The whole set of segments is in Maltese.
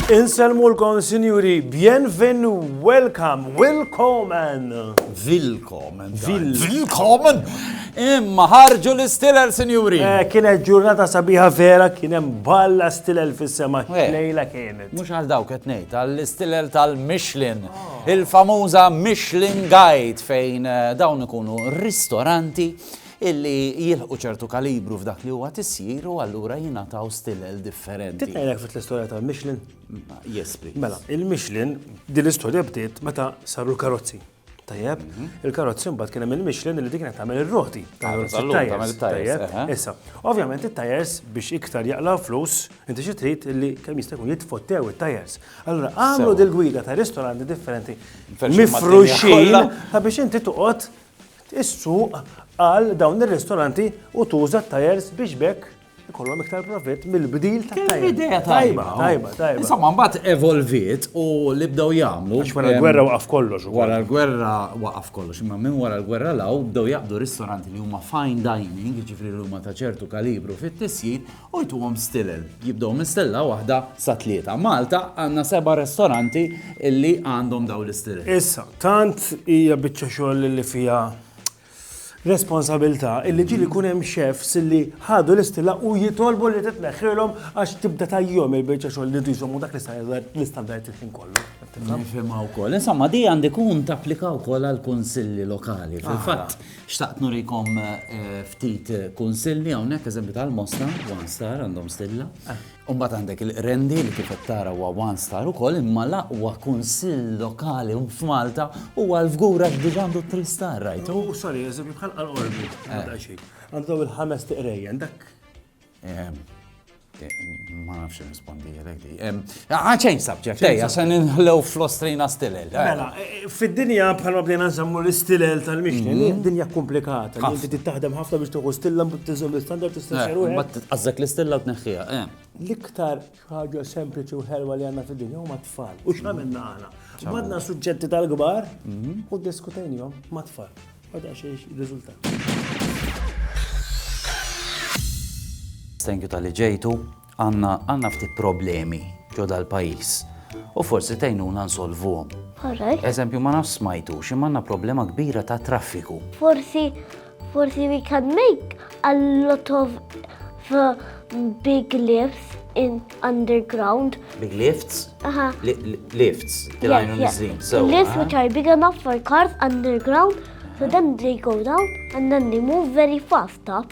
Inselmu l-kon, sinjuri, bienvenu, welcome, willkomen. Willkomen. Willkomen. Imma ħarġu l-istilel, sinjuri. Eh, kienet ġurnata sabiħa vera, kienem balla stilel fis-sema. Eh. Lejla kien. Mhux għal dawk qed ngħid, għall-istilel tal-Michelin, il-famuża Michelin Guide fejn eh, dawn ikunu ristoranti illi jilħu ċertu kalibru f'dak li huwa tisjir u allura jingħataw stilel differenti. Titnejlek fit l-istorja ta' Michelin? Yes, please. Mela, il-Michelin din l-istorja bdiet meta saru l-karozzi. Tajjeb, il-karozzi mbagħad kien hemm il-Michelin li dik qed tagħmel ir-roti. Tajjeb, issa. Ovvjament it-tajers biex iktar jaqlaw flus, inti xi trid li kemm jista' jkun jitfottew it-tajers. Allura għamlu dil-gwida ta' ristoranti differenti mifruxin ta' biex inti toqgħod is-suq għal dawn ir-ristoranti u tuża t-tajers biex bekk ikollhom iktar profitt mill-bdil ta' tajba. Idea tajba, tajba, tajba. Insomma, mbagħad evolviet u li bdew jagħmlu. Għax wara l-gwerra waqaf kollox. Wara l-gwerra waqaf kollox, imma minn wara l-gwerra law bdew jaqbdu ristoranti li huma fine dining, jiġifieri li huma ta' ċertu kalibru fit-tisjin u jtuhom stilel. Jibdew minn stella waħda sa tlieta. Malta għandna seba' ristoranti li għandhom daw l-istilel. Issa, tant hija biċċa xogħol li fiha responsabilità illi ġieli jkun hemm chefs illi ħadu l-istilla u jitolbu li titneħħilhom għax tibda tajjom il-biċċa xogħol li jżommu dak l-istandard il-ħin kollu. Nifhimha wkoll. Insomma, di għandi kun tapplika wkoll għal kunsilli lokali. Ah. Fil-fatt, xtaqt nurikom eh, ftit kunsilli hawnhekk eżempju tal-Mosta, One Star għandhom stilla. Ah. U mbagħad għandek il-Qrendi li kif qed tara huwa one star ukoll imma l-aqwa kunsill lokali f'Malta huwa l-Fgur għax diġà għandu three star rajtu? U sorry, eżempju bħal Qalqorbi, daqsxejn. Għandu il-ħames tiqrejjen dak. Ma nafx nirrispondi għalek di. Għaxejn subject, ejja, se ninħlew fl-ostrina stilel. Mela, Fid-dinja bħalma bdejna nsemmu l-istilel tal-mixni, li mhm. dinja komplikata, li inti taħdem ħafna biex tieħu stilla mbagħad tiżżomm l-istandard tistessir u mbagħad tqażżek l-istilla u tneħħiha. Eh. L-iktar ħaġa sempliċi u ħelwa li għandna fid-dinja huma tfal. U x'għamilna aħna? Madna suġġetti tal-kbar mhm. u diskutejnihom ma' tfal. Għadha xi riżultat. Thank you tal-li ġejtu. Għandna għandna ftit problemi ġo dal-pajjiż u forsi tgħinuna nsolvuhom. Alright. Eżempju ma nafx smajtux imma għandna problema kbira ta' traffiku. Forsi forsi we can make a lot of uh, big lifts in underground. Big lifts? Aha. Li- li- Lifts, Yes, tilajnu yes. nizzin. So, Lifts aha. which are big enough for cars underground, so then they go down and then they move very fast up.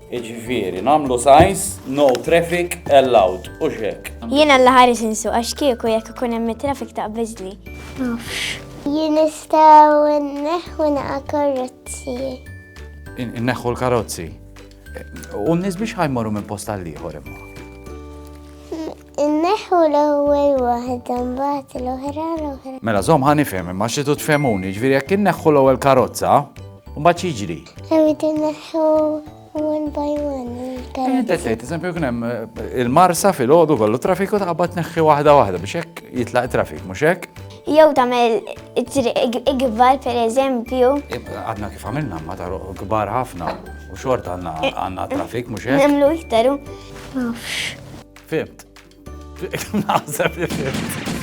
Jiġifieri nagħmlu signs no traffic allowed, hux hekk? Jiena alla ħares insuq għax kieku jekk ikun hemm it-traffic taqbiżli. Nafx. Jien nistgħu nneħħu naqa' karozzi. Inneħħu l-karozzi. U n-nies biex ħajmorru minn post għal ieħor imma. Inneħħu l-ewwel waħda mbagħad l-oħra l-oħra. Mela żomm ħa nifhem imma xi tfhemuni, ġifieri jekk inneħħu l-ewwel karozza, mbagħad jiġri. Irrid inneħħu one by one. Inti tgħid eżempju kien hemm eh, il-marsa fil-għodu kollu traffiku taqbad tneħħi waħda waħda biex hekk jitlaq trafik, mhux hekk? Jew tagħmel ikbar pereżempju. Għadna kif għamilna ma taru kbar ħafna u xort għandna trafik mhux hekk? Nemlu iktar. Fimt. Naħseb li fimt.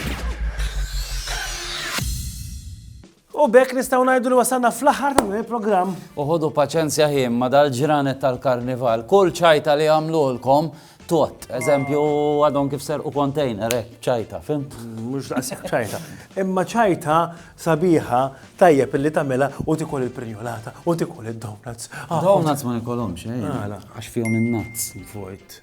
U bekk nistgħu ngħidu li wasalna fl-aħħar ta' dan il-programm. Uħodu paċenzja ħin ma dal-ġranet tal-karnival. Kull ċajta li għamlulkom tot. Eżempju, għadhom kif serqu kontejner, eh, ċajta, fim? Mux daqsek ċajta. Imma ċajta sabiħa tajjeb illi tamela u tikol il-prinjolata u tikol il-donuts. Ah, donuts ma nikolomx, eh? Għax fihom il-nuts. Vojt.